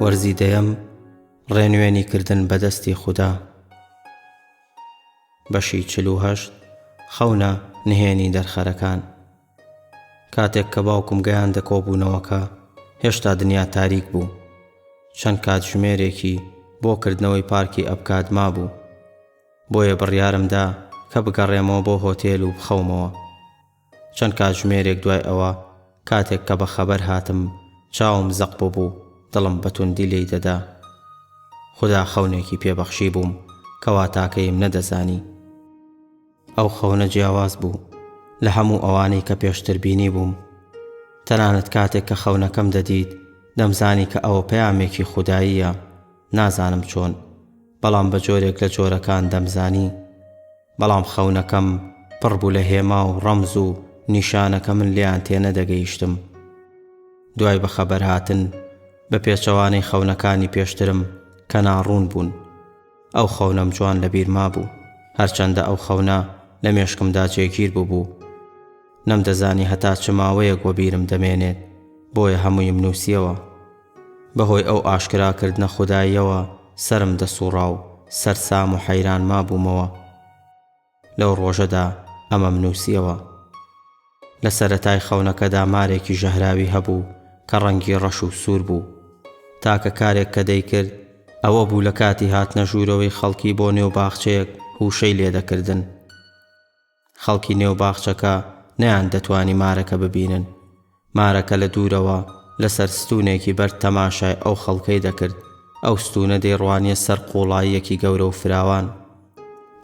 وەرزی دەیەم ڕێنوێنی کردن بەدەستی خودا بەشی چلوهشت خەونە نهێنی دەرخەرەکان کاتێک کە باوکم گەیان دەکۆبوونەوەکە هێشتا دنیا تاریک بوو چەند کاتژمێرێکی بۆ کردنەوەی پارکی ئەبکات مابوو بۆیە بڕیارم دا کە بگەڕێمەوە بۆ هۆتێل و بخەومەوە. چەند کاتژمێرێک دوای ئەوە، کاتێک کە بەخەبەر هاتم، چاوم زەق ببوو، دڵم بە توندی لێی دەدا. خودا خەونێکی پێ بەخشیبووم کە واتاکەیم نەدەزانی. ئەو خەونە جیاواز بوو لە هەموو ئەوانەی کە پێشتر بینیبووم. تەنانەت کاتێک کە خەونەکەم دەدیت، دەمزانی کە ئەوە پەیامێکی خوداییە، نازانم چۆن. بەڵام بە جۆرێک لە جۆرەکان دەمزانی، بەڵام خەونەکەم پڕ بوو لە هێما و ڕەمز و نیشانە کە من لێیان تێنەدەگەیشتم. دوای بەخەبەرهاتن، بە پێچەوانەی خەونەکانی پێشترم کە ناڕوون بوون، ئەو خەونەم جوان لە بیر مابوو، هەرچەندە ئەو خەونە لە مێشکمدا جێگیر بووبوو. نەمدەزانی هەتا چ ماوەیەک وەبیرم دەمێنێت، بۆیە هەموویم نووسییەوە. بەهۆی ئەو ئاشکراکردنە خوداییەوە سەرم دەسووڕا و سەرسام و حەیران مابوومەوە. لەو ڕۆژەدا ئەمەم نووسییەوە. لە سەرەتای خەونەکەدا مارێکی ژەهراوی هەبوو کە ڕەنگی ڕەش و سوور بوو. تاکە کارێک کە دەیکرد ئەوە بوو لە کاتی هاتنە ژوورەوەی خەڵکی بۆ نێو باخچەیەک هووشەی لێ دەکردن. خەڵکی نێو باخچەکە نەیاندەتوانی مارەکە ببینن. مارەکە لە دوورەوە لە سەر ستوونێکی بەرد تەماشای ئەو خەڵکەی دەکرد، ئەو ستوونە دەیڕوانییە سەر قووڵاییەکی گەورە و فراوان.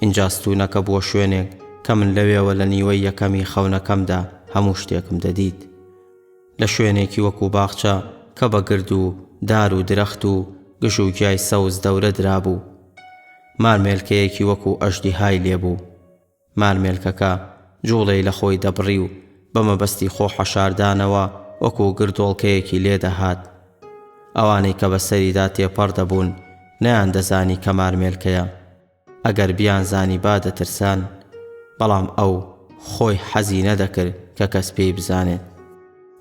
ئینجا ستوونەکە بووە شوێنێک کە من لەوێوە لە نیوەی یەکەمی خەونەکەمدا هەموو شتێکم دەدیت. لە شوێنێکی وەکوو باخچە کە بە گرد و دار و درەخت و گژ و گیای سەوز دەورە درابوو. مار مێلکەیەکی وەکوو ئەژدیهای لێ بوو. مارمێلکەکە جوڵەی لە خۆی دەبڕی و بە مەبەستی خۆ حەشاردانەوە وەکوو گردۆڵکەیەکی لێ دەهات. ئەوانەی کە بە سەریدا تێپەڕ دەبوون نەیاندەزانی کە مارمێلکەیە. ئەگەر بیانزانیبا دەترسان. بەڵام ئەو خۆی حەزی نەدەکرد کە کەس پێی بزانێت.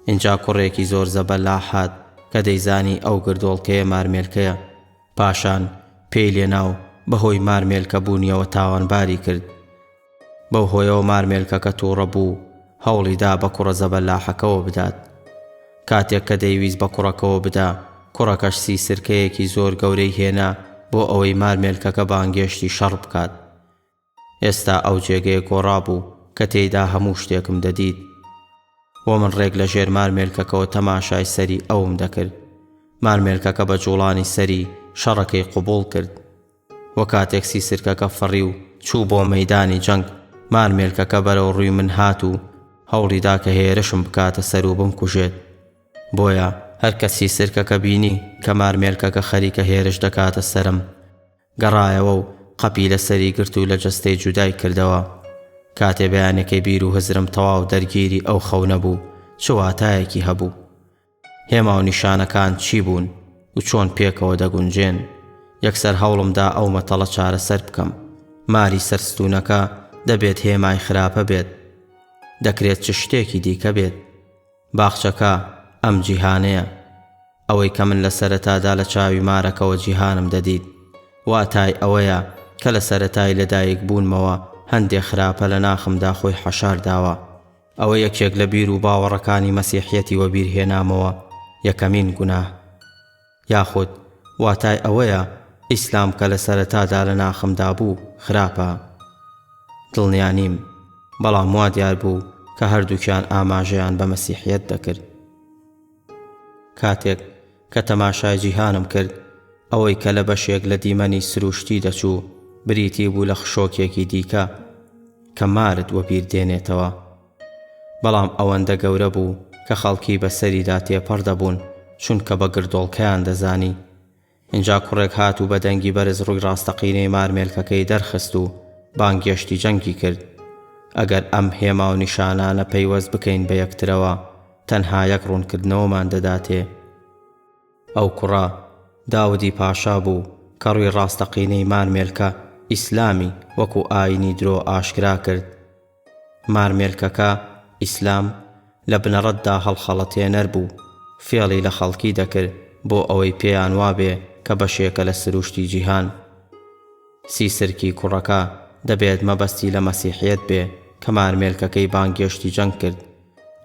ئینجا کوڕێکی زۆر زەبەلاح هات کە دەیزانی ئەو گردۆڵکەیە مارمێلکەیە. پاشان پێی لێنا و بە هۆی مارمێلکە بوونیەوە تاوانباری کرد. بەو هۆیەوە مارمێلکەکە تووڕە بوو و هەوڵی دا بە کوڕە زەبەلاحەکەوە بدات. کاتێک کە دەیویست بە کوڕەکەوە بدا، کوڕەکەش سی سرکەیەکی زۆر گەورەی هێنا بۆ ئەوەی مارمێلکەکە بانگێشتی شەڕ بکات. ئێستا ئەو جێگەیە گۆڕا بوو کە تێیدا هەموو شتێکم دەدیت و من ڕێک لە ژێر مارمێلکەکەوە تەماشای سەری ئەوم دەکرد. مارمێلکەکە بە جووڵانی سەری شەڕەکەی قبووڵ کرد و کاتێک سیسرکەکە فڕی و چوو بۆ مەیدانی جەنگ، مارمێلکەکە بەرەو ڕووی من هات و هەوڵی دا کە هێرشم بکاتە سەر و بمکوژێت. بۆیە هەر کە سیسرکەکە بینی کە مارمێلکەکە خەریکە هێرش دەکاتە سەرم، گەڕایەوە و قەپی لە سەری گرت و لە جەستەی جودای کردەوە. کاتێ بەیانەکەی بیر و هزرم تەواو دەرگیری ئەو خەونە بوو، چ واتایەکی هەبوو؟ هێما و نیشانەکان چی بوون و چۆن پێکەوە دەگونجێن؟ یەکسەر هەوڵم دا ئەو مەتەڵە چارەسەر بکەم. ماری سەر ستوونەکە، دەبێت هێمای خراپە بێت. دەکرێت چ شتێکی دیکە بێت. باخچەکە ئەم جیهانەیە. ئەوەی کە من لە سەرەتادا لە چاوی مارەکەوە جیهانم دەدیت، واتای ئەوەیە کە لە سەرەتای لەدایکبوونمەوە هەندێ خراپە لە ناخمدا خۆی حەشار داوە. ئەوە یەکێک لە بیر و باوەڕەکانی مەسیحیەتی وەبیرهێنامەوە، یەکەمین گوناه. یاخود واتای ئەوەیە ئیسلام کە لە سەرەتادا لە ناخمدا بوو خراپە؟ دڵنیا نیم، بەڵام وا دیار بوو کە هەردووکیان ئاماژەیان بە مەسیحیەت دەکرد. کاتێک کە تەماشای جیهانم کرد، ئەوەی کە لە بەشێک لە دیمەنی سرووشتی دەچوو، بریتی بوو لە خشۆکێکی دیکە کە مارت وەبیر دێنێتەوە. بەڵام ئەوەندە گەورە بوو کە خەڵکی بە سەریدا تێپەڕ دەبوون چونکە بە گردۆڵکەیان دەزانی. ئینجا کوڕێک هات و بە دەنگی بەرز ڕووی ڕاستەقینەی مارمێلکەکەی دەرخست و بانگێشتی جەنگی کرد. ئەگەر ئەم هێما و نیشانانە پەیوەست بکەین بە یەکترەوە تەنها یەک ڕوونکردنەوەمان دەداتێ. ئەو کوڕە، داودی پاشا، بوو کە ڕووی ڕاستەقینەی مارمێلکە، ئیسلامی، وەکو ئاینی درۆ ئاشکرا کرد. مارمێلکەکە، ئیسلام، لە بنەڕەتدا هەڵخەڵەتێنەر بوو، فێڵی لە خەڵکی دەکرد بۆ ئەوەی پێیان وابێ کە بەشێکە لە سرووشتی جیهان. سیسرکی کوڕەکە دەبێت مەبەستی لە مەسیحیەت بێ کە مارمێلکەکەی بانگێشتی جەنگ کرد.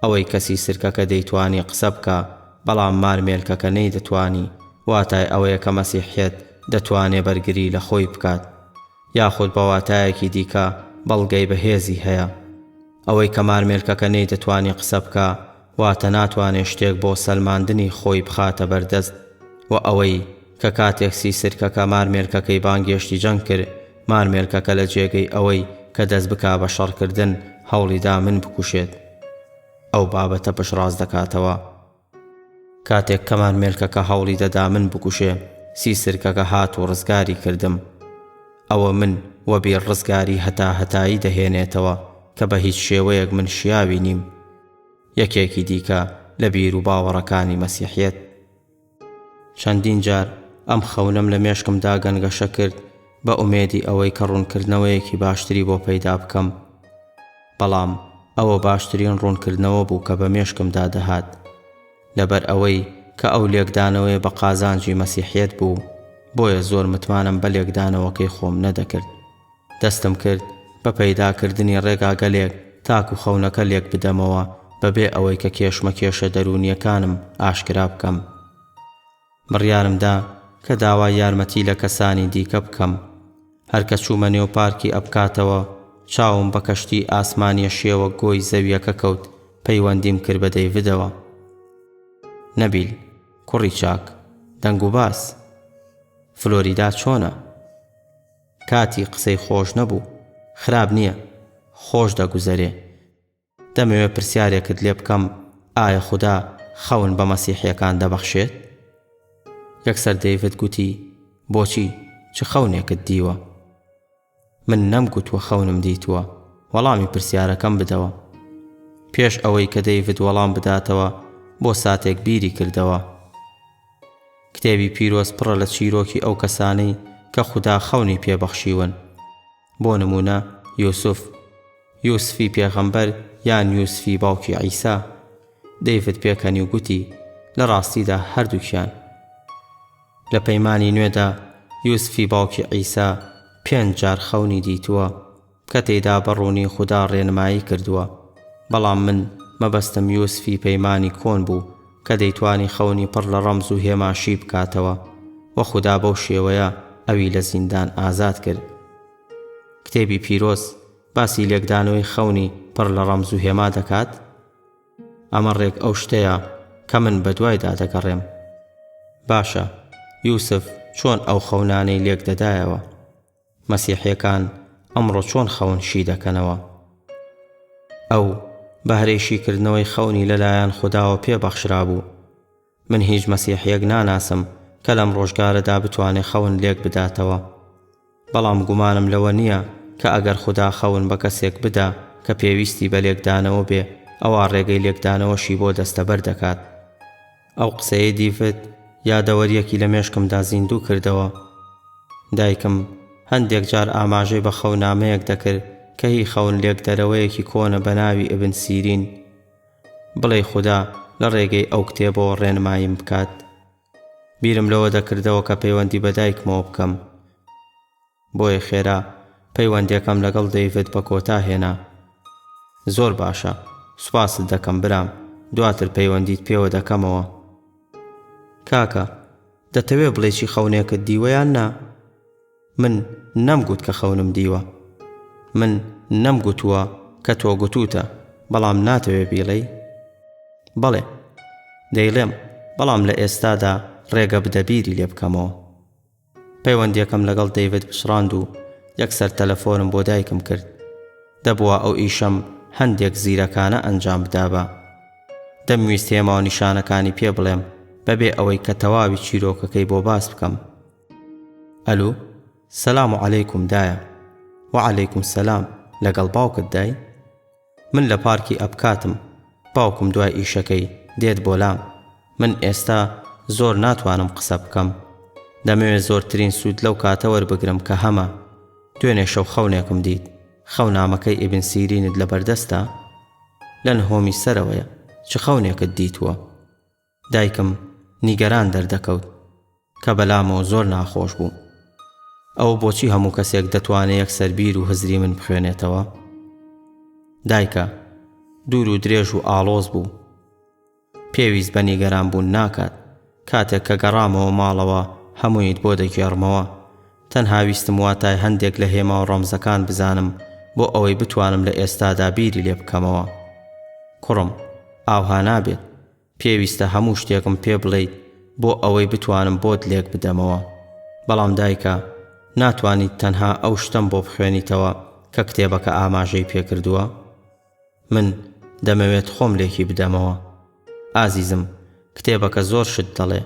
ئەوەی کە سیسرکەکە دەیتوانی قسە بکا بەڵام مارمێلکەکە نەیدەتوانی، واتای ئەوەیە کە مەسیحیەت دەتوانێ بەرگری لە خۆی بکات. یاخود بە واتایەکی دیکە بەڵگەی بەهێزی هەیە. ئەوەی کە مارمێلکەکە نەیدەتوانی قسە بکا واتە ناتوانێ شتێک بۆ سەلماندنی خۆی بخاتە بەردەست وە ئەوەی کە کاتێک سیسرکەکە مارمێلکەکەی بانگێشتی جەنگ کرد مارمێلکەکە لە جێگەی ئەوەی کە دەست بکا بە شەڕکردن هەوڵی دا من بکوشێت ئەو بابەتە پشتڕاست دەکاتەوە. کاتێک کەمان مێلکەکە هەوڵی دەدا من بکوشێ سی سرکەکە هات و ڕزگاری کردم ئەوە من وە بیر ڕزگاری هەتا هەتایی دەهێنێتەوە کە بە هیچ شێوەیەک من شیاوی نیم یەکێکی دیکە لە بیر و باوەڕەکانی مەسیحیەت چەندین جار ئەم خەونەم لە مێشکمدا گەنگەشە کرد بە ئومێدی ئەوەی کە ڕوونکردنەوەیەکی باشتری بۆ پەیدا بکەم. بەڵام ئەوە باشترین ڕوونکردنەوە بوو کە بە مێشکمدا دەهات. لەبەر ئەوەی کە ئەو لێکدانەوەیە بە قازانجی مەسیحیەت بوو، بۆیە زۆر متمانەم بە لێکدانەوەکەی خۆم نەدەکرد. دەستم کرد بە پەیداکردنی ڕێگاگەلێک تاکو خەونەکە لێکبدەمەوە بەبێ ئەوەی کە کێشمەکێشە دەروونییەکانم ئاشکرا بکەم. بڕیارم دا کە داوای یارمەتی لە کەسانی دیکە بکەم. هەر کە چوومە نێو پارکی ئەپکاتەوە، چاوم بە کەشتیی ئاسمانییە شێوە گۆی زەوییەکە کەوت، پەیوەندیم کرد بە دەیڤدەوە. نەبیل، کوڕی چاک، دەنگوباس. فلۆریدا چۆنە؟ کاتی قسەی خۆش نەبوو. خراپ نییە. خۆش دەگوزەرێ. دەمەوێت پرسیارێکت لێ بکەم ئایا خودا خەون بە مەسیحیەکان دەبەخشێت؟ یەکسەر دەیڤد گوتی بۆچی چ خەونێکت دیوە؟ من نەم گوتوە خەونم دیتوە وەڵامی پرسیارەکەم بدەوە پێش ئەوەی کە دەیڤد وەڵام بداتەوە بۆ ساتێک بیری کردەوە کتێبی پیرۆز پڕە لە چیرۆکی ئەو کەسانەی کە خودا خەونی پێبەخشیون بۆ نموونە یوسف، یوسفی پێغەمبەر یان یوسفی باوکی عیسا، دەیڤد پێکەنیو گوتی، لە ڕاستیدا هەردووکیان. لە پەیمانی نوێدا یوسفی باوکی عیسا پێنج جار خەونی دیتووە، کە تێیدا بە ڕوونی خودا ڕێنمایی کردووە، بەڵام من مەبەستم یوسفی پەیمانی کۆن بوو، کە دەیتوانی خەونی پڕ لە ڕەمز و هێما شی بکاتەوە و خودا بەو شێوەیە ئەوی لە زیندان ئازاد کرد. کتێبی پیرۆز باسی لێکدانەوەی خەونی پڕ لە ڕەمز و هێما دەکات، ئەمە ڕێک ئەو شتەیە کە من بەدوایدا دەگەڕێم. باشە، یوسف چۆن ئەو خەونانەی لێکدەدایەوە؟ مەسیحیەکان ئەمڕۆ چۆن خەون شی دەکەنەوە؟ ئەو بەهرەی شیکردنەوەی خەونی لەلایەن خوداوە پێ بەخشرابوو. من هیچ مەسیحیەک ناناسم کە لەم ڕۆژگارەدا بتوانێ خەون لێک بداتەوە. بەڵام گومانم لەوە نیە کە ئەگەر خودا خەون بە کەسێک بدا کە پێویستی بە لێکدانەوە بێ ئەوا ڕێگەی لێکدانەوەشی بۆ دەستەبەر دەکات. ئەو قسەیەی دیڤد یادەوەرییەکی لە مێشکمدا زیندوو کردەوە. دایکم هەندێک جار ئاماژەی بە خەونامەیەک دەکرد کە هی خەون لێکدەرەوەیەکی کۆنە بە ناوی ئیبن سیرین. بڵێی خودا لە ڕێگەی ئەو کتێبەوە ڕێنماییم بکات. بیرم لەوە دەکردەوە کە پەیوەندی بە دایکمەوە بکەم. بۆیە خێرا پەیوەندیەکەم لەگەڵ دەیڤد بە کۆتا هێنا. زۆر باشە. سوپاست دەکەم برام. دواتر پەیوەندیت پێوە دەکەمەوە. کاکە، دەتەوێ بڵێی چی خەونێکت دیوە یان نا؟ من نەمگوت کە خەونم دیوە. من نەمگوتووە کە تۆ گوتووتە، بەڵام ناتەوێ بیڵێی؟ بەڵێ. دەیڵێم، بەڵام لە ئێستادا ڕێگە بدە بیری لێ بکەمەوە. پەیوەندیەکەم لەگەڵ دەیڤد پچڕاند و یەکسەر تەلەفۆنم بۆ دایکم کرد. دەبوا ئەو ئیشەم هەندێک زیرەکانە ئەنجام بدابا. دەمویست هێما و نیشانەکانی پێ بڵێم بەبێ ئەوەی کە تەواوی چیرۆکەکەی بۆ باس بکەم. ئەلو، سەلام عەلەیکوم دایە. وەعەلەیکوم سەلام، لەگەڵ باوکت دای؟ من لە پارکی ئەپکاتم باوکم دوای ئیشەکەی دێت بۆلام من ئێستا زۆر ناتوانم قسە بکەم دەمەوێت زۆرترین سود لەو کاتە وەربگرم کە هەمە دوێنێ شەو خەونێکم دیت خەونامەکەی ئیبن سیرینت لەبەردەستە؟ لە نهۆمی سەرەوەیە چ خەونێکت دیتووە؟ دایکم نیگەران دەردەکەوت کە بەلامەوە زۆر ناخۆش بوو. ئەوە بۆچی هەموو کەسێک دەتوانێ یەکسەر بیر و هزری من بخوێنێتەوە؟ دایکە، دوور و درێژ و ئاڵۆز بوو. پێویست بە نیگەران بوون ناکات. کاتێک کە گەڕامەوە ماڵەوە هەموویت بۆ دەگێڕمەوە. تەنها ویستم واتای هەندێک لە هێما و ڕەمزەکان بزانم بۆ ئەوەی بتوانم لە ئێستادا بیری لێ بکەمەوە. کوڕم، ئاوها نابێت. پێویستە هەموو شتێکم پێ بڵێیت بۆ ئەوەی بتوانم بۆت لێک بدەمەوە. بەڵام دایکە، ناتوانیت تەنها ئەو شتەم بۆ بخوێنیتەوە کە کتێبەکە ئاماژەی پێ کردووە؟ من دەمەوێت خۆم لێکی بدەمەوە. ئازیزم، کتێبەکە زۆر شت دەڵێ.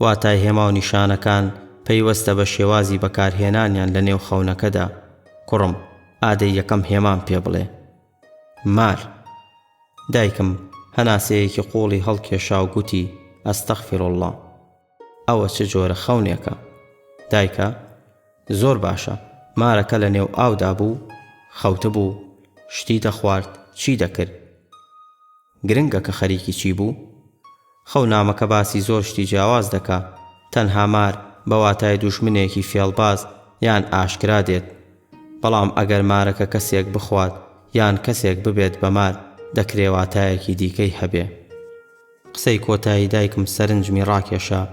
واتای هێما و نیشانەکان پەیوەستە بە شێوازی بەکارهێنانیان لە نێو خەونەکەدا. کوڕم، ئادەی یەکەم هێمام پێ بڵێ. مار. دایکم هەناسەیەکی قوڵی هەڵکێشا و گوتی، استغفراللە. ئەوە چ جۆرە خەونێکە؟ دایکە، زۆر باشە، مارەکە لە نێو ئاودا بوو، خەوتبوو، شتی دەخوارد، چی دەکرد؟ گرنگە کە خەریکی چی بوو؟ خەو نامەکە باسی زۆر شتی جیاواز دەکا تەنها مار بە واتای دوژمنێکی فێڵباز یان ئاشکرا دێت بەڵام ئەگەر مارەکە کەسێک بخوات یان کەسێک ببێت بە مار دەکرێ واتایەکی دیکەی هەبێ. قسەی کۆتایی دایکم سەرنجمی ڕاکێشا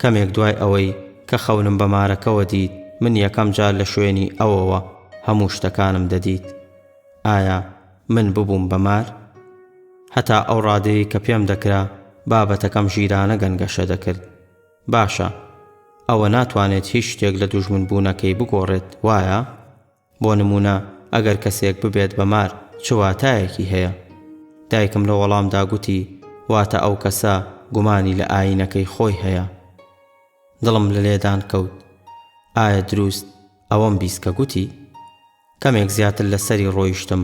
کەمێک دوای ئەوەی کە خەونم بە مارەکەوە دیت من یەکەم جار لە شوێنی ئەوەوە هەموو شتەکانم دەدیت ئایا من ببووم بە مار؟ هەتا ئەو ڕادەیەی کە پێم دەکرا بابەتەکەم ژیرانە گەنگەشە دەکرد. باشە، ئەوە ناتوانێت هیچ شتێک لە دوژمنبوونەکەی بگۆڕێت، وایە؟ بۆ نموونە ئەگەر کەسێک ببێت بە مار چ واتایەکی هەیە؟ دایکم لە وەڵامدا گوتی، واتە ئەو کەسە گومانی لە ئایینەکەی خۆی هەیە. دڵم لە لێدان کەوت. ئایا دروست ئەوەم بیست کە گوتی؟ کەمێک زیاتر لە سەری ڕۆیشتم،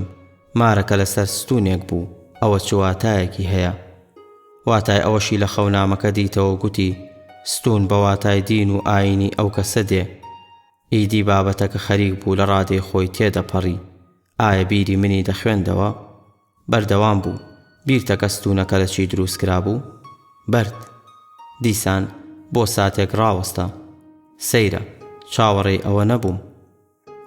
مارەکە لە سەر ستوونێک بوو، ئەوە چ واتایەکی هەیە؟ واتای ئەوەشی لە خەونامەکە دیتەوە گوتی، ستوون بە واتای دین و ئایینی ئەو کەسە دێ. ئیدی بابەتەکە خەریک بوو لە ڕادەی خۆی تێدەپەڕی، ئایا بیری منی دەخوێندەوە؟ بەردەوام بوو، بیرتە کە ستوونەکە لە چی دروست کرابوو؟ بەرد. دیسان بۆ ساتێک ڕاوەستا. سەیرە، چاوەڕێی ئەوە نەبووم.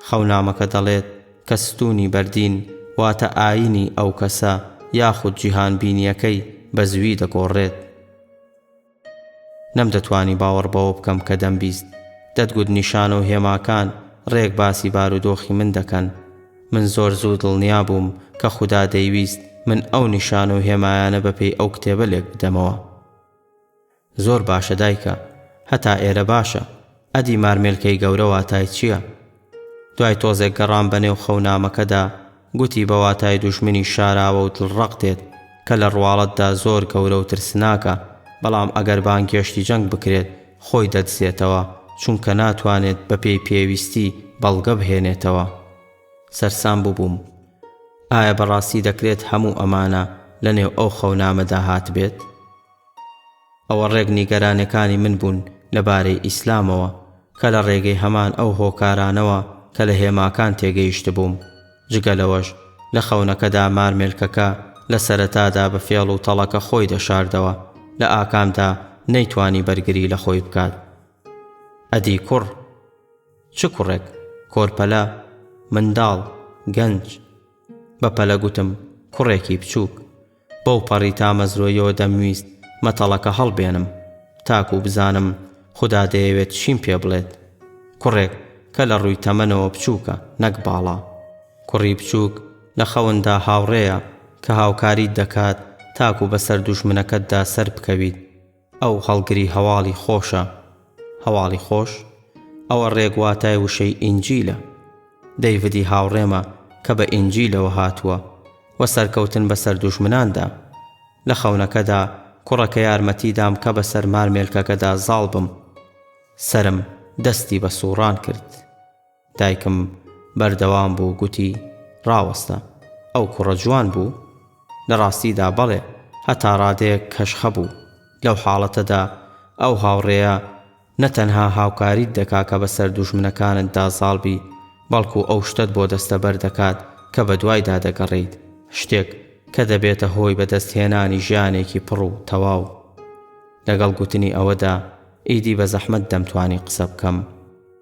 خەونامەکە دەڵێت کە ستوونی بەردین واتە ئایینی ئەو کەسە یاخود جیهانبینییەکەی بە زوویی دەگۆڕێت. نەمدەتوانی باوەڕ بەوە بکەم کە دەمبیست. دەتگوت نیشانە و هێماکان ڕێک باسی بارودۆخی من دەکەن. من زۆر زوو دڵنیا بووم کە خودا دەیویست من ئەو نیشانە و هێمایانە بەپێی ئەو کتێبە لێکبدەمەوە. زۆر باشە دایکە هەتا ئێرە باشە ئەدی مارمێلکەی گەورە واتای چیە دوای تۆزێک گەڕام بە نێو خەونامەکەدا گوتی بە واتای دوژمنی شاراوە و دڵڕەق دێت کە لە ڕواڵەتدا زۆر گەورە و ترسناکە بەڵام ئەگەر بانگێشتی جەنگ بکرێت خۆی دەدزێتەوە چونکە ناتوانێت بە پێی پێویستی بەڵگە بهێنێتەوە سەرسام بووبووم ئایا بەڕاستی دەکرێت هەموو ئەمانە لە نێو ئەو خەونامەدا هاتبێت؟ ئەوە ڕێک نیگەرانێکانی من بوون لە بارەی ئیسلامەوە کە لە ڕێگەی هەمان ئەو هۆکارانەوە کە لە هێماکان تێگەیشتبووم. جگە لەوەش لە خەونەکەدا مارمێلکەکە لە سەرەتادا بە فێڵ و تەڵەکە خۆی دەشاردەوە لە ئاکامدا نەیتوانی بەرگری لە خۆی بکات. ئەدی کوڕ؟ چ کوڕێک؟ کۆرپەلە؟ منداڵ؟ گەنج؟ بە پەلە گوتم، کوڕێکی بچووک. بەو پەڕی تامەزرۆیەوە دەمویست مەتەڵەکە هەڵبێنم تاکوو بزانم خودا دەیەوێت چیم پێ بڵێت. کوڕێک کە لە ڕووی تەمەنەوە بچووکە نەک باڵا. کوڕی بچووک لە خەوندا هاوڕێیە کە هاوکاریت دەکات تاکوو بەسەر دوژمنەکەتدا سەربکەویت. ئەو هەڵگری هەواڵی خۆشە، هەواڵی خۆش، ئەوە ڕێک واتای وشەی ئینجیلە. دەیڤدی هاوڕێمە کە بە ئینجیلەوە هاتووە و سەرکەوتن بەسەر دوژمناندا. لە خەونەکەدا کوڕەکە یارمەتی دام کە بەسەر مارمێلکەکەدا زاڵ بم. سەرم دەستی بە سووڕان کرد. دایکم بەردەوام بوو گوتی، ڕاوەستە. ئەو کوڕە جوان بوو؟ لە ڕاستیدا بەڵێ، هەتا ڕادەیەک کەش خەبوو. لەو حاڵەتەدا ئەو هاوڕێیە نە تەنها هاوکاریت دەکا کە بەسەر دوژمنەکانتدا زاڵ بی، بەڵکو ئەو شتەت بۆ دەستەبەر دەکات کە بەدوایدا دەگەڕێیت، شتێک کە دەبێتە هۆی بەدەستهێنانی ژیانێکی پڕ و تەواو. لەگەڵ گوتنی ئەوەدا، ئیدی بە زەحمەت دەمتوانی قسە بکەم.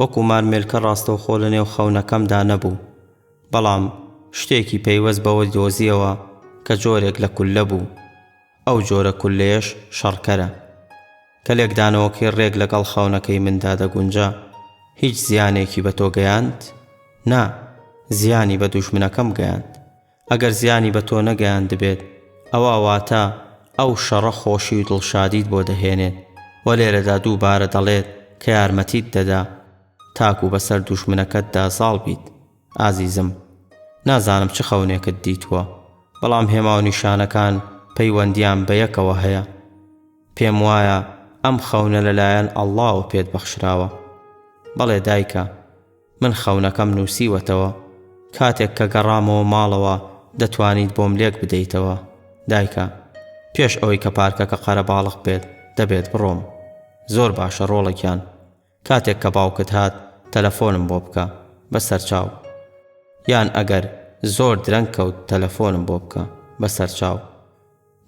وەکو مارمێلکە ڕاستەوخۆ لە نێو خەونەکەمدا نەبوو، بەڵام شتێکی پەیوەست بەوە دۆزییەوە کە جۆرێک لە کوللە بوو، ئەو جۆرە کوللەیەش شەڕکەرە. کە لێکدانەوەکەی ڕێک لەگەڵ خەونەکەی مندا دەگونجا، هیچ زیانێکی بە تۆ گەیاند؟ نا، زیانی بە دوژمنەکەم گەیاند. ئەگەر زیانی بە تۆ نەگەیاندبێت، ئەوا واتە ئەو شەڕە خۆشی و دڵشادیت بۆ دەهێنێت و لێرەدا دووبارە دەڵێت کە یارمەتیت دەدا تاکو بەسەر دوژمنەکەتدا زاڵ بیت. ئازیزم، نازانم چ خەونێکت دیتووە، بەڵام هێما و نیشانەکان پەیوەندییان بە یەکەوە هەیە. پێم وایە ئەم خەونە لەلایەن ئەڵڵاوە پێت بەخشراوە. بەڵێ دایکە. من خەونەکەم نووسیوەتەوە. کاتێک کە گەڕامەوە ماڵەوە دەتوانیت بۆم لێک بدەیتەوە. دایکە، پێش ئەوەی کە پارکەکە قەرەباڵغ بێت دەبێت بڕۆم. زۆر باشە ڕۆڵە گیان. کاتێک کە باوکت هات تەلەفۆنم بۆ بکە. بەسەرچاو. یان ئەگەر زۆر درەنگ کەوت تەلەفۆنم بۆ بکە. بەسەرچاو.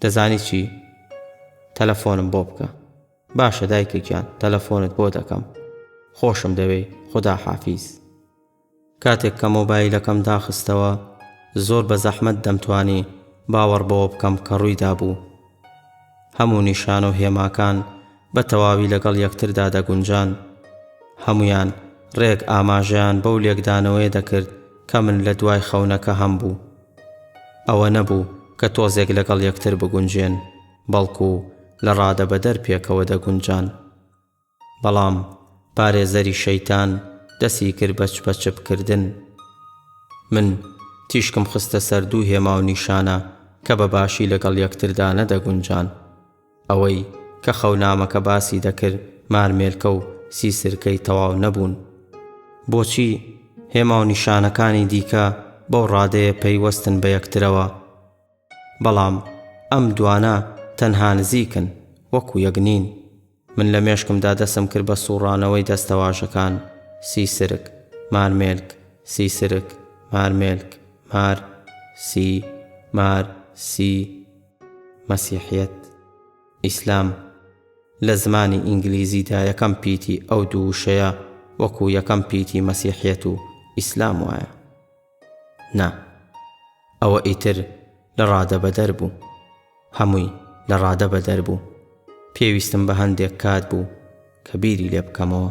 دەزانی چی؟ تەلەفۆنم بۆ بکە. باشە دایکە گیان تەلەفۆنت بۆ دەکەم خۆشم دەوێی خودا حافیز. کاتێک کە مۆبایلەکەم داخستەوە زۆر بە زەحمەت دەمتوانی باوەڕ بەوە بکەم کە ڕووی دابوو. هەموو نیشانە و هێماکان بە تەواوی لەگەڵ یەکتردا دەگونجان. هەموویان ڕێک ئاماژەیان بەو لێکدانەوەیە دەکرد کە من لە دوای خەونەکە هەمبوو. ئەوە نەبوو کە تۆزێک لەگەڵ یەکتر بگونجێن. بەڵکو لە ڕادەبەدەر پێکەوە دەگونجان. بەڵام پارێزەری شەیتان دەستی کرد بە چپەچپکردن. من تیشکم خستە سەر دوو هێما و نیشانە کە بە باشی لەگەڵ یەکتردا نەدەگونجان. ئەوەی کە خەونامەکە باسی دەکرد مارمێلکە و سیسرکەی تەواو نەبوون. بۆچی هێما و نیشانەکانی دیکە بەو ڕادەیە پەیوەستن بە یەکترەوە؟ بەڵام ئەم دوانە تەنها نزیکن، وەکو یەک نین. من لە مێشکمدا دەسم کرد بە سووڕانەوەی دەستەواژەکان، سیسرک، مارمێلک، سیسرک، مارمێلک، مار، سی، مار، سی، مەسیحیەت، ئیسلام. لە زمانی ئینگلیزیدا یەکەم پیتی ئەو دوو وشەیە وەکو یەکەم پیتی مەسیحیەت و ئیسلام وایە. نا ئەوە ئیتر لە ڕادە بەدەر بوو هەمووی لە ڕادە بەدەر بوو پێویستم بە هەندێک کات بوو کە بیری لێ بکەمەوە